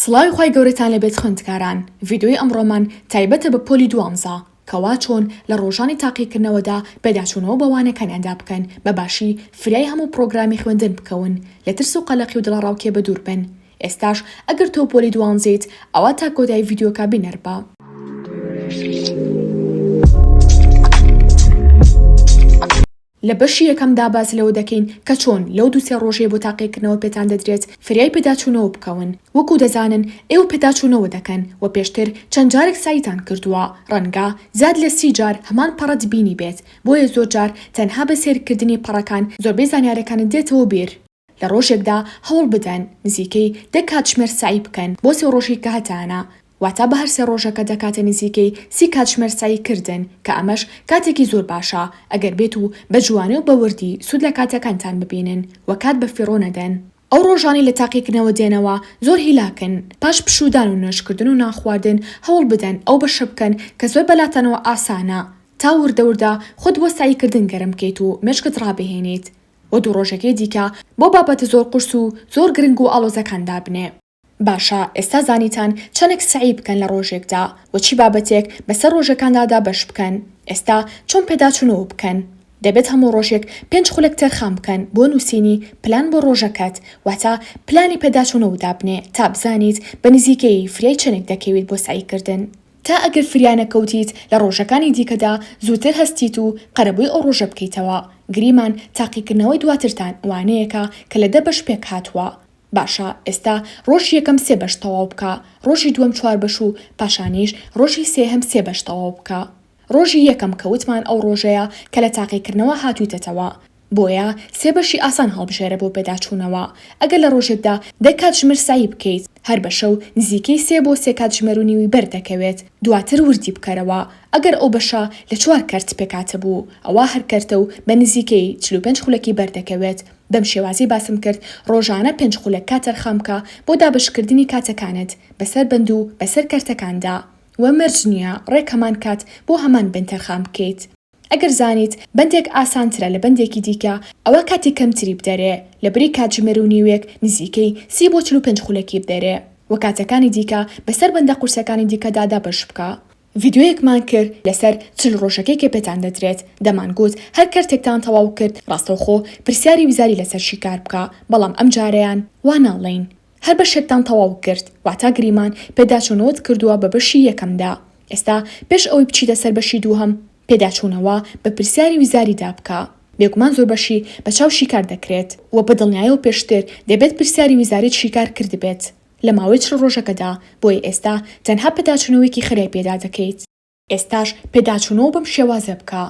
سڵاوی خوای گەورەتان لێ بێت خوێندکاران، ڤیدیۆی ئەمڕۆمان تایبەتە بە پۆلی دووەم زا، کە وا چۆن لە ڕۆژانی تاقیکردنەوەدا پێداچوونەوە بە وانەکانیاندا بکەن بە باشی فریای هەموو پڕۆگرامی خوێندن بکەون لە ترس و قەلەقی و دڵەڕاوکێ بە دوور بن ئێستاش ئەگەر تۆ پۆلی دوانزەیت ئەوا تا کۆتایی ڤیدیۆکە بینەر بە. لە بەشی یەکەمدا باس لەوە دەکەین کە چۆن لەو دوو سێ ڕۆژەی بۆ تاقیکردنەوە پێتان دەدرێت فریای پێداچوونەوە بکەون، وەکو دەزانن ئێوە پێداچوونەوە دەکەن و پێشتر چەند جارێک سەعیتان کردووە، ڕەنگە زیاد لە سی جار هەمان پەڕەت بینیبێت، بۆیە زۆر جار تەنها بە سەیرکردنی پەڕەکان زۆربەی زانیارەکانت دێتەوە بیر. لە ڕۆژێکدا هەوڵ بدەن نزیکەی دە کاتژمێر سەعی بکەن بۆ سێ ڕۆژی کە هەتانە، واتە بە هەر سێ ڕۆژەکە دەکاتە نزیکەی سی کاتژمێر سەعی کردن کە ئەمەش کاتێکی زۆر باشە ئەگەر بێت و بە جوانی و بە وردی سوود لە کاتەکانتان ببینن و کات بە فیڕۆ نەدەن. ئەو ڕۆژانەی لە تاقیکردنەوە دێنەوە زۆر هیلاکن، پاش پشوودان و نوێژکردن و نانخواردن هەوڵ بدەن ئەو بەشە بکەن کە زۆر بەلاتانەوە ئاسانە تا وردە وردە خۆت بۆ سەعی کردن گەرم بکەیت و مێشکت ڕابهێنیت و دوو ڕۆژەکەی دیکە بۆ بابەتە زۆر قورس و زۆر گرنگ و ئاڵۆزەکان دابنێ. باشە ئێستا زانیتان چەنێک سەعی بکەن لە ڕۆژێکدا و چی بابەتێک بەسەر ڕۆژەکاندا دابەش بکەن، ئێستا چۆن پێداچوونەوە بکەن؟ دەبێت هەموو ڕۆژێک پێنج خولەک تەرخان بکەن بۆ نووسینی پلان بۆ ڕۆژەکەت، واتە پلانی پێداچوونەوە دابنێ تا بزانیت بە نزیکەیی فریای چەنێک دەکەویت بۆ سەعیکردن. تا ئەگەر فریانەکەوتیت لە ڕۆژەکانی دیکەدا زووتر هەستیت و قەرەبووی ئەو ڕۆژە بکەیتەوە. گریمان تاقیکردنەوەی دواترتان وانەیەکە کە لە دە بەش پێکهاتووە. باشە ئێستا ڕۆژی یەکەم سێ بەش تەواو بکە، ڕۆژی دووەم چوار بەش و پاشانیش ڕۆژی سێهەم سێ بەش تەواو بکە. ڕۆژی یەکەم کە وتمان ئەو ڕۆژەیە کە لە تاقیکردنەوە هاتوویتەتەوە. بۆیە سێ بەشی ئاسان هەڵبژێرە بۆ پێداچوونەوە، ئەگەر لە ڕۆژێکدا دە کاتژمێر سەعی بکەیت، هەر بەشەو نزیکەی سێ بۆ سێ کاتژمێر و نیوی بەر دەکەوێت، دواتر وردی بکەرەوە، ئەگەر ئەو بەشە لە چوار کەرت پێکهاتە بوو، ئەوا هەر کەرتە و بە نزیکەی چل و پێنج خولەکی بەر دەکەوێت، بەم شێوازەی باسم کرد، ڕۆژانە پێنج خولەک کات تەرخان بکە بۆ دابەشکردنی کاتەکانت بەسەر بەند و بەسەر کەرتەکاندا، وە مەرج نییە ڕێک هەمان کات بۆ هەمان بەند تەرخان بکەیت. ئەگەر زانیت بەندێک ئاسانترە لە بەندێکی دیکە ئەوا کاتی کەمتری بدەرێ لەبری کاتژمێر و نیوێک نزیکەی سی بۆ چل و پێنج خولەکی بدەرێ وە کاتەکانی دیکە بەسەر بەندە قورسەکانی دیکەدا دابەش بکە. ڤیدیۆیەکمان کرد لەسەر چل ڕۆژەکەی کە پێتان دەدرێت دەمان گوت هەر کەرتێکتان تەواو کرد ڕاستەوخۆ پرسیاری وزاری لەسەر شیکار بکە بەڵام ئەمجارەیان وا ناڵێین هەر بەشێکتان تەواو کرد واتا گریمان پێداچوونەوەت کردووە بە بەشی یەکەمدا ئێستا پێش ئەوەی بچیتە سەر بەشی دووهەم پێداچوونەوە بە پرسیاری وزاریدا بکە بێگومان زۆر بەشی بە چاو شیکار دەکرێت وە بە دڵنیایەوە پێشتر دەبێت پرسیاری وزاریت شیکار کردبێت لە ماوەی چل ڕۆژەکەدا بۆیە ئێستا تەنها پێداچوونەوەیەکی خێرای پێدا دەکەیت. ئێستاش پێداچوونەوە بەم شێوازە بکە،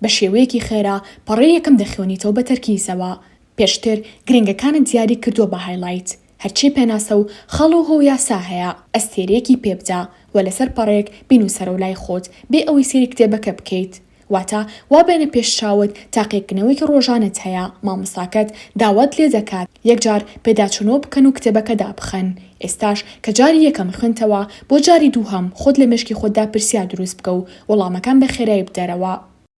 بە شێوەیەکی خێرا پەڕەی یەکەم دەخوێنیتەوە بە تەرکیزەوە، پێشتر گرنگەکانت دیاری کردووە بە هایلایت، هەرچی پێناسە و خاڵ و هۆو یاسا هەیە ئەستێرەیەکی پێ بدە و لەسەر پەڕەیەک بینووسەرەوە لای خۆت بێ ئەوەی سەیری کتێبەکە بکەیت، واتە وا بێنە پێش چاوت تاقیکردنەوەیەکی ڕۆژانەت هەیە مامۆستاکەت داوات لێ دەکات یەکجار پێداچوونەوە بکەن و کتێبەکە دابخەن، ئێستاش کە جاری یەکەم خوێندتەوە بۆ جاری دووهەم خۆت لە مێشکی خۆتدا پرسیار دروست بکە و وەڵامەکان بە خێرایی بدەرەوە.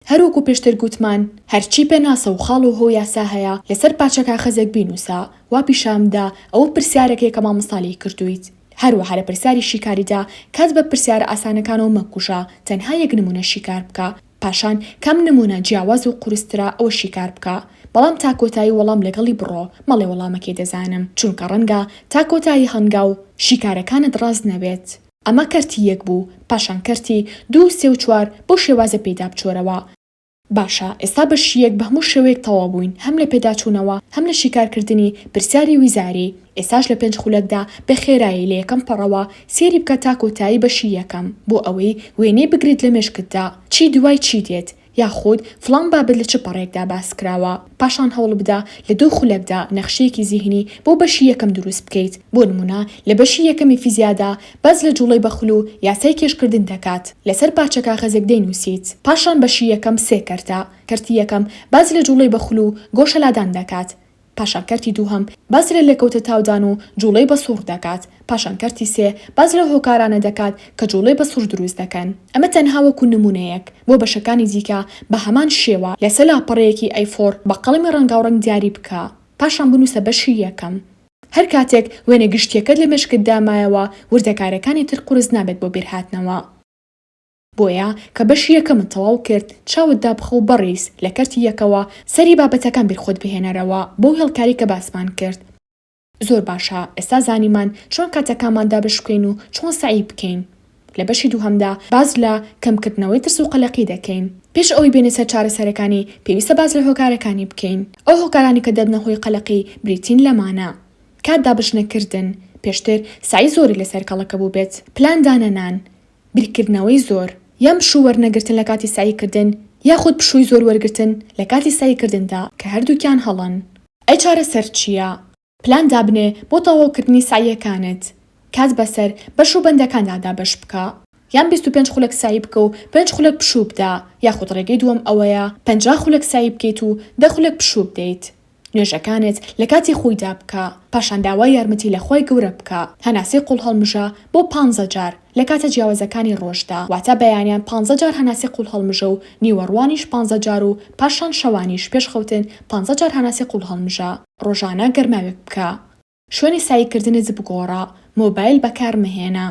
هەروەکو پێشتر گوتمان هەرچی پێناسە و خاڵ و هۆ و یاسا هەیە لەسەر پارچە کاخەزێک بینووسە وا پیشان بدە ئەوە پرسیارەکەیە کە مامۆستا لێی کردوویت. هەروەها لە پرسیاری شیکاریدا کات بە پرسیارە ئاسانەکانەوە مەکوژە تەنها یەک نموونە شیکار بکە. پاشان کام نموونە جیاواز و قورسترە ئەوە شیکار بکە، بەڵام تا کۆتایی وەڵام لەگەڵی بڕۆ، مەڵێ وەڵامەکەی دەزانم، چونکە ڕەنگە تا کۆتایی هەنگاو و شیکارەکانت ڕاست نەبێت. ئەمە کەرتی یەک بوو، پاشان کەرتی دوو و سێ و چوار، بەو شێوازە پێیدا بچۆرەوە. باشە ئێستا بەشی یەک بە هەموو شێوەیەک تەواو بووین، هەم لە پێداچوونەوە، هەم لە شیکارکردنی پرسیاری ویزاری، ئێستاش لە پێنج خولەکدا بە خێرایی لە یەکەم پەڕەوە سێری بکە تا کۆتایی بەشی یەکەم بۆ ئەوەی وێنەی بگریت لە مێشکتدا چی دوای چی دێت یاخود فڵان بابەت لە چ پەڕێکدا باس کراوە پاشان هەوڵبدە لە دوو خولەکدا نەخشەیەکی زیهنی بۆ بەشی یەکەم دروست بکەیت بۆ نمونە لە بەشی یەکەمی فیزیادا باس لە جوڵەی بەخل و یاسای کێشکردن دەکات لەسەر پارچە کاغەزێک دەینوسیت پاشان بەشی یەکەم سێ کەرتە کەرتی یەکەم باس لە جوڵەی بەخل و گۆشەلادان دەکات پاشان کەرتی دووهەم باس لە لێکەوتە تاودان و جوڵەی بە سوڕ دەکات، پاشان کەرتی سێ باس لەو هۆکارانە دەکات کە جوڵەی بە سوڕ دروست دەکەن. ئەمە تەنها وەکو نمونەیەک، بۆ بەشەکانی دیکە بە هەمان شێوە لەسە لاپەڕەیەکی ئەی فۆر بە قەڵەمی ڕەنگاوڕەنگ دیاری بکە، پاشان بنووسە بەشی یەکەم. هەر کاتێک وێنە گشتییەکەت لە مێشکتدا مایەوە، وردەکارییەکانی تر قورس نابێت بۆ بیرهاتنەوە. بۆیە کە بەشی یەکەمت تەواو کرد چاوت دابخە و بەڕیز لە کەرتی یەکەوە سەری بابەتەکان بیر خۆت بهێنەرەوە بەو هێڵکاری کە باسمان کرد. زۆر باشە ئێستا زانیمان چۆن کاتەکانمان دابشکوێین و چۆن سەعی بکەین. لە بەشی دووهەمدا باس لە کەم کردنەوەی ترس و قەلەقی دەکەین. پێش ئەوەی بێینە سەر چارەسەرەکانی پێویستە باس لە هۆکارەکانی بکەین. ئەو هۆکارانەی کە دەبنە هۆی قەلەقی بریتین لەمانە. کات دابشنەکردن، پێشتر سەعی زۆری لەسەر کەڵەکە بووبێت، پلان دانەنان، بیرکردنەوەی زۆر، یان پشوو وەرنەگرتن لە کاتی سەعیکردن، یاخود پشووی زۆر وەرگرتن لە کاتی سەعیکردندا، کە هەردووکیان هەڵەن. ئەی چارەسەر چییە؟ پلان دابنێ بۆ تەواوکردنی سەعییەکانت. کات بەسەر بەش و بەندەکاندا دابەش بکە. یان بیست و پێنج خولەک سەعی بکە و پێنج خولەک پشوو بدە، یاخود ڕێگەی دووەم ئەوەیە پەنجا خولەک سەعی بکەیت و دە خولەک پشوو بدەیت. نوێژەکانت لە کاتی خۆیدا بکە، پاشان داوای یارمەتی لە خوای گەورە بکە، هەناسەی قوڵهەڵمژە بۆ پانزە جار لە کاتە جیاوازەکانی ڕۆژدا، واتە بەیانیان پانزە جار هەناسەی قوڵهەڵمژە و نیوەڕوانیش پانزە جار و پاشان شەوانیش پێش خەوتن پانزە جار هەناسەی قوڵهەڵمژە. ڕۆژانە گەرماوێک بکە. شوێنی سەعیکردنت بگۆڕە، مۆبایل بەکارمەهێنە.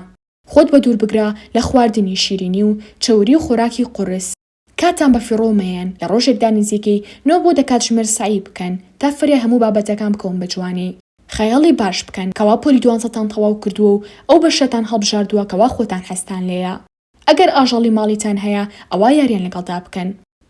خۆت بەدوور بگرە لە خواردنی شیرینی و چەوری و خۆراکی قورس. کاتتان بە فیڕۆ مەیەن لە ڕۆژێکدا نزیکەی نۆ بۆ دە کاتژمێر سەعی بکەن تا فرە هەموو بابەتەکان بکەون بە جوانی خەیاڵی باش بکەن کەوا پۆلی دوانزەتان تەواو کردووە و ئەو بەشەتان هەڵبژاردووە کەوا خۆتان حەزتان لێیە ئەگەر ئاژەڵی ماڵیتان هەیە ئەوا یاریان لەگەڵدا بکەن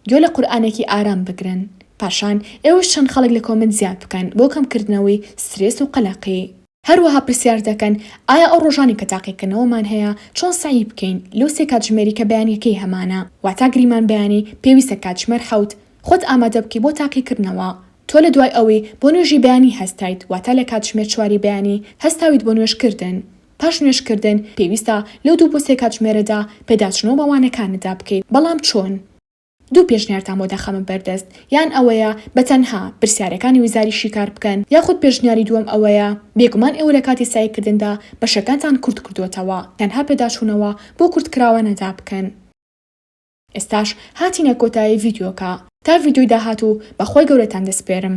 گوێ لە قورئانێکی ئارام بگرن پاشان ئێوەش چەند خەڵک لە کۆمێنت زیاد بکەن بۆ کەم کردنەوەی سترێس و قەلەقی. هەروەها پرسیار دەکەن ئایا ئەو ڕۆژانەی کە تاقیکردنەوەمان هەیە چۆن سەعی بکەین لەو سێ کاتژمێری کە بەیانیەکەی هەمانە واتا گریمان بەیانی پێویستە کاتژمێر حەوت خۆت ئامادە بکەی بۆ تاقیکردنەوە تۆ لە دوای ئەوەی بۆ نوێژی بەیانی هەستایت واتا لە کاتژمێر چواری بەیانی هەستاویت بۆ نوێژ کردن پاش نوێژ کردن پێویستە لەو دوو بۆ سێ کاتژمێرەدا پێداچونەوە بە وانەکانتدا بکەیت بەڵام چۆن دوو پێشنیارتان بۆ دەخەمە بەردەست، یان ئەوەیە بە تەنها پرسیارەکانی وزاری شیکار بکەن، یاخود پێشنیاری دووەم ئەوەیە، بێگومان ئێوە لە کاتی سەعیکردندا بەشەکانتان کورت کردووەتەوە، تەنها پێداچوونەوە بۆ کورتکراوانەدا بکەن. ئێستاش هاتینە کۆتایی ڤیدیۆکە، تا ڤیدیۆی داهاتوو بە خوای گەورەتان دەسپێرم.